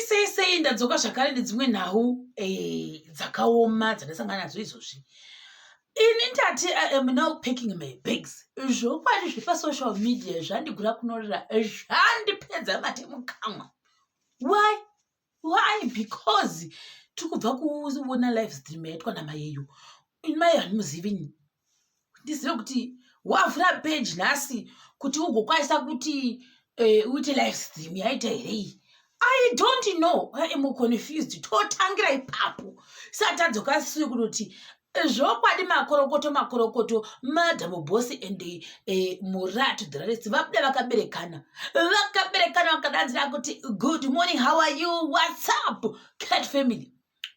sei sei ndadzoka zvakare nedzimwe nhau eh, dzakaoma dzandasangana nadzo izvozvi ini ndati i am now packing my bags zvokwadi zvepasocial media zvandigura kunorira zvandipedza mate mukamwa why why because tiri kubva kuona live stream yaitwa namayeyo mai handimuzivi ndizive kuti wavhura peji nhasi kuti ugokwanisa kuti eh, uite live stream yaita here iyi i don't know i am confused totangira ipapo satadzoka siri kunoti zvokwadi makorokoto makorokoto madam bosi and eh, muratu dhiraresi vabuda vakaberekana vakaberekana vakadanzira kuti good morning how are you whatsapp cat family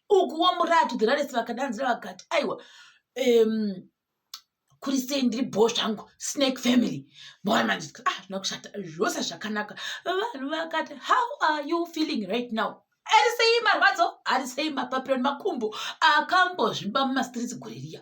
ukuwo muratu the raresi vakadanzira vakati aiwa um, kuri sei ndiri bho zvangu snake family mona manje ah zvina kushata zvose zvakanaka vanhu vakati how are you feeling right now ari sei marwadzo ari sei mapapiro nemakumbo akambozvimba mumastreets gore riya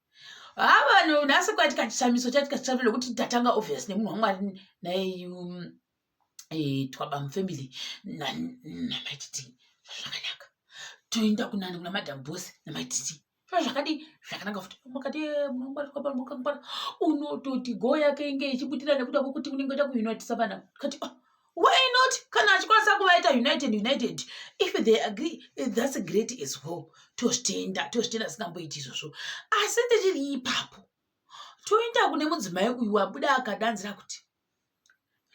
haa vanhu nhasi kwatika chishamiso chatika chishamiso nekuti tatanga obvious nemunhu wamwari naye um, eh, twabam family namaititi zvakanaka toenda kunani kuna madam bos namaititi zvakadii zvakanaka futi makati eh, munhu wamwari twabam wakangwara unototi go yake inge ichibudira nekuda kwekuti unenge oda kuunitisa vana kati oh why not kana achikwanisa kuvaita united united if they agree thats a great as well tozvitenda tozvitenda singamboiti izvozvo asi ndichiri ipapo toenda kune mudzimai uyu wabuda akadanzira kuti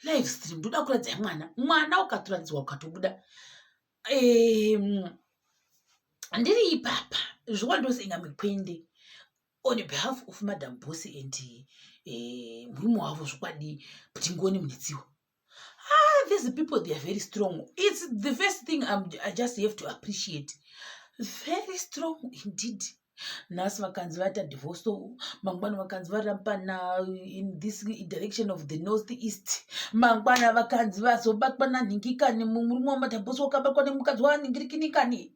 live stream ndoda kuradzai mwana mwana ukatoradzirwa ukatobuda ndiri ipapa zvokwandoseinga mikwende on behalf of madam boss and eh, murume uh, wavo zvokwadi ptingoni munetsiwa ah, these people they are very strong its the first thing I'm, i just have to appreciate very strong indeed nhasi vakanzi vaita divorce mangwana vakanzi varapana in this direction of the north east mangwana vakanzi vazobatwa nanhingikani murume wamadabosi wakabatwa nemukadzi wanhingirikinikani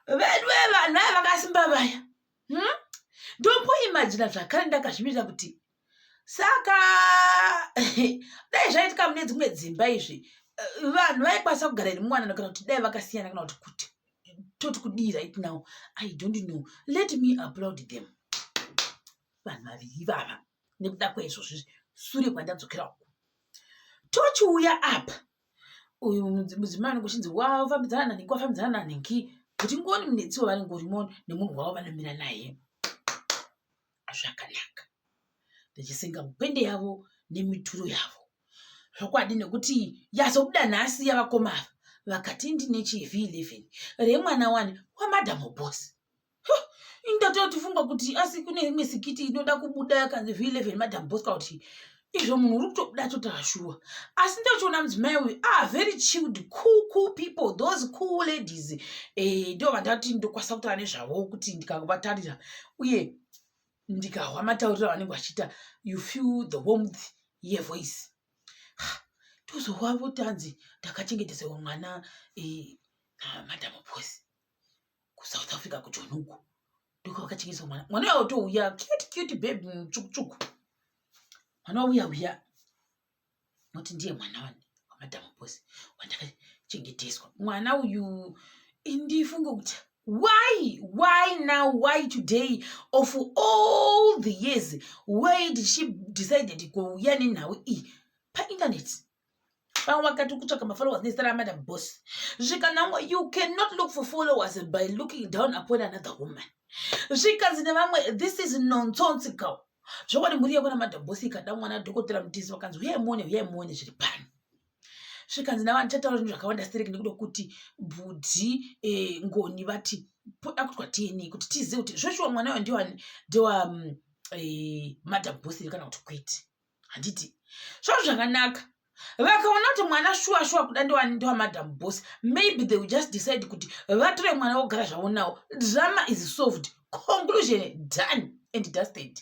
vedwe vanhu vaya vakasimba vaya hmm? ndomboimajina zvakare ndakazvimirira kuti saka dai zvaitika mune dzimwe dzimba izvi eh, vanhu vaikwanisa kugara iri mwanana kana kuti dai vakasiyana kana kuti kuti toti kudii right now i don't know let me applaud them vanhu vaviri ivava nekuda kwaizvozvizvi sure kwandadzokera uku tochiuya apa uyu mudzimai anenge achinzi wafambidzana nanhingi wafambidzana nanhingi kuti ngoni munetsi wavanenge urimo nemunhu wavo vanomira naye zvakanaka ndichisenga mupende yavo nemituro yavo zvokwadi nekuti yazobuda nhasi yavakoma ava vakati ndine chiv 11 remwana wani wamadam boss ini ndatotifunga kuti asi kune imwe sikiti inoda kubuda yakanzi v 11 madam bosca kuti izvo munhu uri kutobuda totashuwa asi ndochiona mudzimai uyu a ah, very chilled cool cool people those cool ladies eh, ndo vandati ndokwanisa kutaura nezvavo kuti ndikavatarira uye ndikahwa matauriro avanenge vachiita you feel the warmth yevoice tozohwa votanzi ndakachengetesaiwa mwana eh, madam bosi kusouth africa kujoni uko ndiko vakachengeswa mwana mwana uya otouya cute cute babe mutsvukutsvuku mwana wauya uya noti ndiye mwana wani wamadhamu bosi wandakachengeteswa mwana uyu ndifunge kuti why why now why today of all the years why did she decided kuuya nenhau iyi painternet pamwe vakati kutsvaka mafollowers nezita ramadam boss zvikanangwa you cannot look for followers by looking down upon another woman zvikanzi nevamwe this is nonsonse cow zvokwadi mhuri yekuna madam boss ikada mwana dhokotera mutisi vakanzi uye muone uye muone zviri pani zvikanzi navanhu chataura zvinhu zvakawanda stereki nekuda kuti bhudhi eh, ngoni vati akutwa tini kuti tizive kuti zvoshuwa mwana uyo ndiwa ndiwa mm, eh, madam boss kana kuti kwete handiti svo zvakanaka vakaona kuti mwana shuwa shuwa kuda ndowamadam boss maybe they will just decide kuti vatore mwana wogara zvavo nawo drama is solved conclusion done and dusted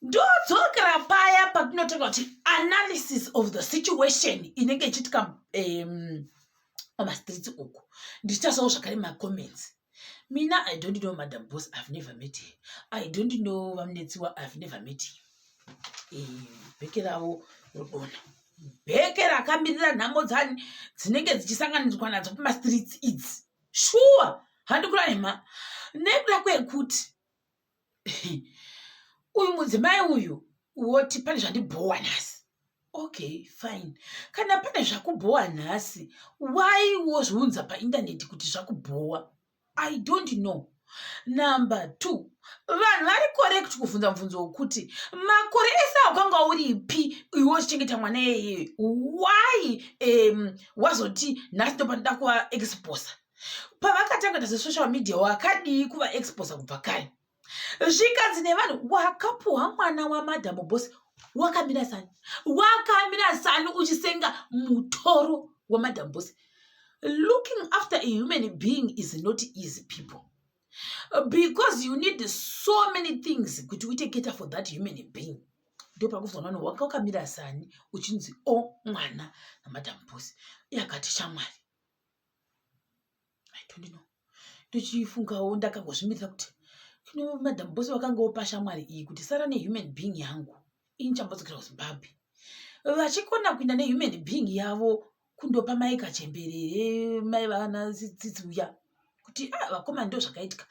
ndodzokera paya patinotaura kuti analysis of the situation inenge ichiitika um, pamastreets uku ndichitasawo zvakare macomments mina i don't know madam boss i've never met her i don't know vamunetsiwa i've never met him bheke ravo rodona bheke rakamirira nhamo dzani dzinenge dzichisanganidzwa nadzo pamastreets idzi shuwa handikurayima nekuda kwekuti uyu mudzimai uyu woti pane zvandibhowa nhasi okay fine kana pane zvakubhowa nhasi why wozviunza paindaneti kuti zvakubhowa i don't know number two vanhu vari correct kuvhunza mubvunzo wokuti makore ese aukanga uripi iwe uchichengeta mwana iyeye why um, wazoti nhasi ndopanoda kuva exposer pavakatanga kuita zvesocial media wakadii kuvaexposa kubva kare zvikanzi nevanhu wakapuhwa mwana wamadhamu bosi wakamira sani wakamira sani uchisenga mutoro wamadhamu bosi looking after a human being is not easy people because you need so many things kuti uite keta for that human being ndopakufunga vanhu wanga wakamira sani uchinzi o oh, mwana namadhamu bosi yakati shamwari i don't know ndochifungawo ndakangozvimirira kuti kino madam bose vakangawo pashamwari iyi kuti sara nehuman being yangu ini chambodzokera kuzimbabwe vachikona kuinda nehuman being yavo kundopa mai kachemberere mai vana tsitsi uya kuti a ah, vakoma ndo zvakaitika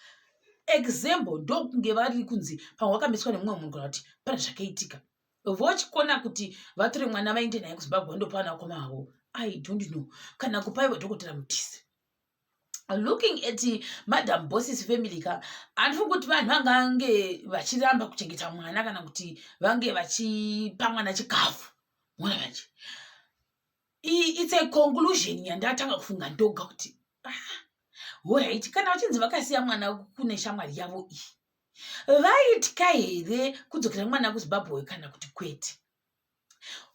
example ndokunge vari kunzi pamwe wakamiswa nemumwe munhu kana kuti pane zvakaitika vochikona kuti vatore mwana vaende naye kuzimbabwe vandopa vana vakoma vavo i don't know kana kupaiwa dhokotera mutisi looking at madam bosses family ka handifungi kuti vanhu vangange vachiramba kuchengeta mwana kana kuti vange vachipa mwana chikafu mona vanje it's a conclusion yandatanga kufunga ndoga kuti ah, horaiti kana vachinzi vakasiya mwana kune shamwari yavo iyi vaitya here kudzokera mwana kuzimbabwe kana kuti kwete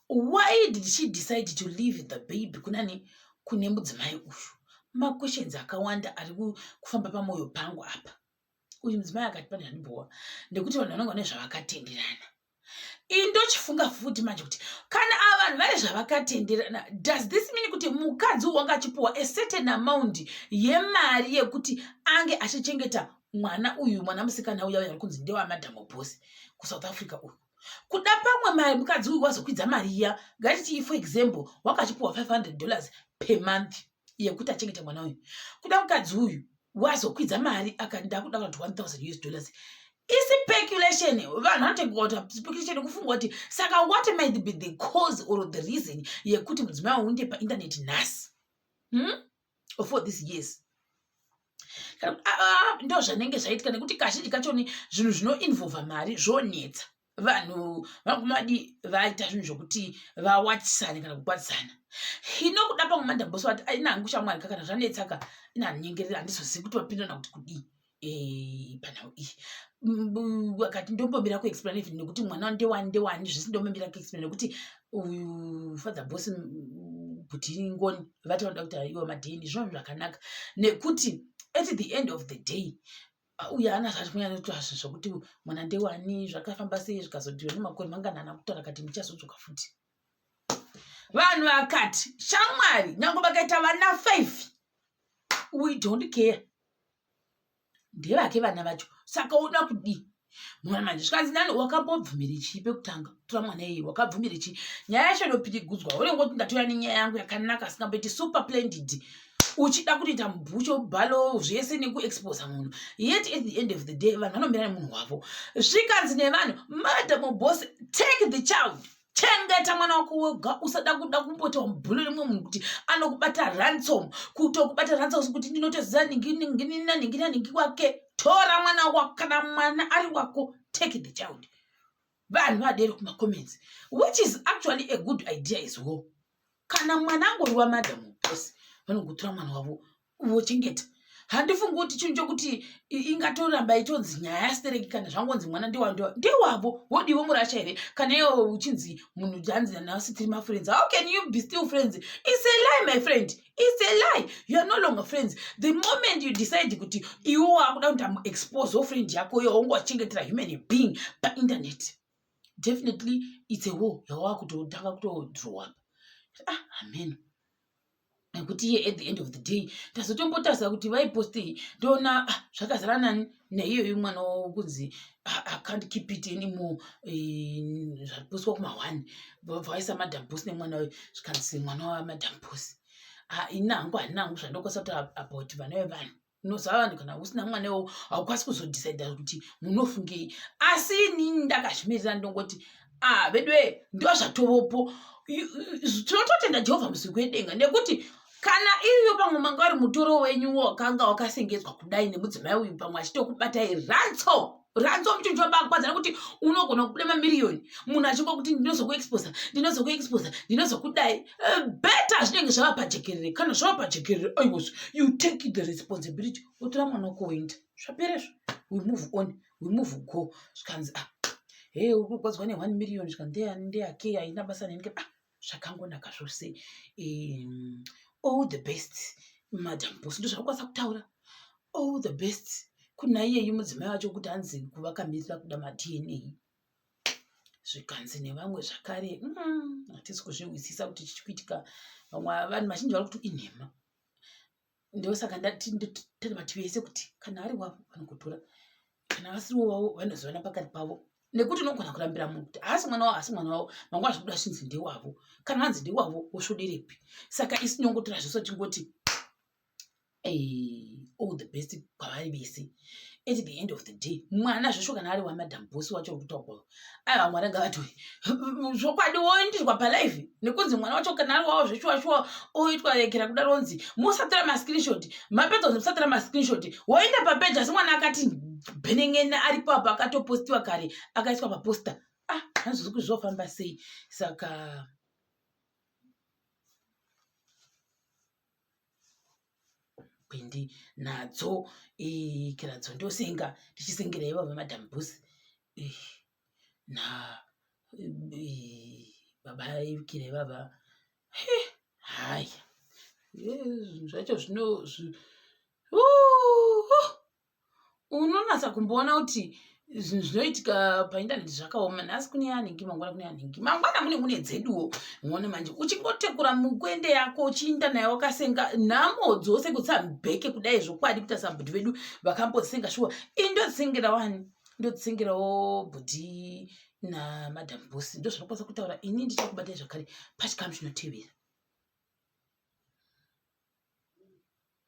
why did she decide to leave the baby kunani kune mudzimai uyu maquestions akawanda ari kufamba pamwoyo pangu apa uyu mudzimai akati pane handibhowa nekuti vanhu vanonga vane zvavakatenderana iyi ndochifunga futi manje kuti kana ava vanhu vane zvavakatenderana does this mean kuti mukadzi wanga achipiwa a certain amount yemari yekuti ange achichengeta mwana uyu mwana musikana uya uya ari kunzi ndewamadhamo bosi kusouth africa uyu kuda pamwe mari mukadzi uyu wazokwidza mari iya ngatiti for example wakachipiwa 500 dollars per month yekuti achengete mwana uyu kuda mukadzi uyu wazokwidza mari akanda kuda kuti 1000 us dollars isipeculation vanhu vanotengota speculation kufunga kuti saka what might be the cause or the reason yekuti mudzimai unde painternet nhasi hmm? for this years ah, ah, ndo zvanenge zvaitika nekuti kazhinji kachoni zvinhu zvinoinvolva mari zvonetsa vanhu vakumadi vaita zvinhu zvokuti vawatisane kana kukwatisana hino kuda pamwe mandamboso vati aina hangu shamwari ka kana zvanetsaka ina hanyengerera handizozivi kuti vapindana kuti kudii eh, panhau iyi akati ndombomira kuexplain even nekuti mwana ndewani ndewani zvese ndombomira kuexplain nekuti uyu father bos kuti ngoni vati vanoda kuti aiwa madheni zvinhu zvakanaka nekuti at the end of the day uye ana zvati kunyanyotiwa zvinhu zvokuti mwana ndewani zvakafamba sei zvikazodiwa nemakore manganana kutaura kati muchazodzoka futi vanhu vakati shamwari nyange vakaita vana five we don't care ndevake vana vacho saka uda kudii mwana manje zvikanzi nani wakambobvumira chii pekutanga tora mwana iyeye wakabvumira chii nyaya yacho inopirigudzwa unenge kuti ndatora nenyaya yangu yakanaka asingamboiti super plendid uchida kutoita mubhucho bhalo zvese nekuexposa munhu yet at the end of the day vanhu vanomira nemunhu wavo zvikanzi nevanhu madam boss take the child chengeta mwana wako wega usada kuda kumbotiwa mubhulo rimwe munhu kuti anokubata ransom kutokubata ransom kuti ndinotoziva ninginaninginaningi wake tora mwana wako kana mwana ari wako take the child vanhu vadero kumacomments which is actually a good idea as well kana mwana angori wamadam bos vanogotora mwana wavo vochengeta handifungi kuti chinhu chokuti ingatoramba itonzi nyaya yasitereki kana zvangonzi mwana ndewando ndewavo wodivo murasha here kana iwo uchinzi munhu janzi nasi tiri mafriends how can you be still friends its a lie my friend It's a lie. You are no longer friends. The moment you decide kuti iwo wakuda kuti amuexpose wo friend yako yo wongo wachengetera human being pa internet. Definitely it's a war yawakutotanga kutodrow up. Ah, amen. Nekuti iye at the end of the day ndazotombotarisa kuti vaipostei ndoona ah, zvakazara nani neiyoyi mwana wavo kunzi acant keep it anymore eh, zvapuswa kumahwani vabva vaisa madam bos nemwana wayo zvikanzi mwana wavo madam bos ah, ini hangu handina hangu zvandokwasa kuti about vana vevanhu unoziva vanhu kana usina mwana iwowo haukwasi kuzodecida kuti munofungei asi inini ndakazvimirira ndongoti ah veduwe ndiwa zvatovopo tinototenda jehovha muziko yedenga nekuti kana iriyo pamwe manga wari mutoro wenyu wakanga wakasengedzwa kudai nemudzimai uyu pamwe achitokubatai ratso ratso muchinhu chobakwadza nekuti unogona kubuda mamiriyoni munhu achingokuti ndinozokuexposa ndinozokuexposa ndinozokudai eh, beta zvinenge zvava pajekerere kana zvava pajekerere aiwazvo you take the responsibility wotora mwana wako woenda zvaperezvo we move on we move ko zvikanzi ah he uri kurwadziwa ne one million zvikanzi ndeyani ndeyake haina basa neni ah zvakangonaka zvose um, all the best madam boss ndozvakukwanisa kutaura all the best kuna iyeyi mudzimai wacho kuti anzi kuvakamirira kuda madna zvikanzi nevamwe zvakare mm, hatisi kuzvihwisisa kuti chichikuitika vamwe vanhu vazhinji vari kuti inhema ndosaka ndatiri vati vese kuti kana ari wavo vanokutora kana vasiriwo wavo vanozivana pakati pavo nekuti unogona kurambira munhu kuti haasi mwana wavo haasi mwana wavo mangu achibuda achinzi ndewavo kana vanzi ndewavo wosvoderepi saka isu tinongotora zvese tingoti all the best kwavari vese at the end of the day mwana zvesho kana ari wamadam bosi wacho uri kutaurwa aiwa mwana ngavatoi zvokwadi woendiswa palive nekunzi mwana wacho kana ari wawo zveshuwashuwa oitwa yekera kuda ronzi musatira mascreenshot mapedza kunzi musatira mascreenshot woenda papeji asi mwana akati bhenengene aripo apo akatopostiwa kare akaiswa paposta ah hanzvisi kuti zvofamba sei saka pindi nadzo kiradzo ndosenga ndichisengera ivo vemadam bus na baba ikira ivava haya zvinhu zvacho zvino unonatsa kumboona kuti zvinhu zvinoitika paindaneti zvakaoma nhasi kune yanhingi mangwana kune yanhingi mangwana mune mune dzeduwo muone manje uchingotekura mukwende yako uchiinda nayo wakasenga nhamo dzose kutsambeke kudai zvokwadi kuti asabhudhi vedu vakambosenga shuwa i ndodzisengera wani ndodzisengerawo bhudhi namadam bosi ndozvinokwanisa kutaura ini ndichakubatai zvakare pachikamu chinotevera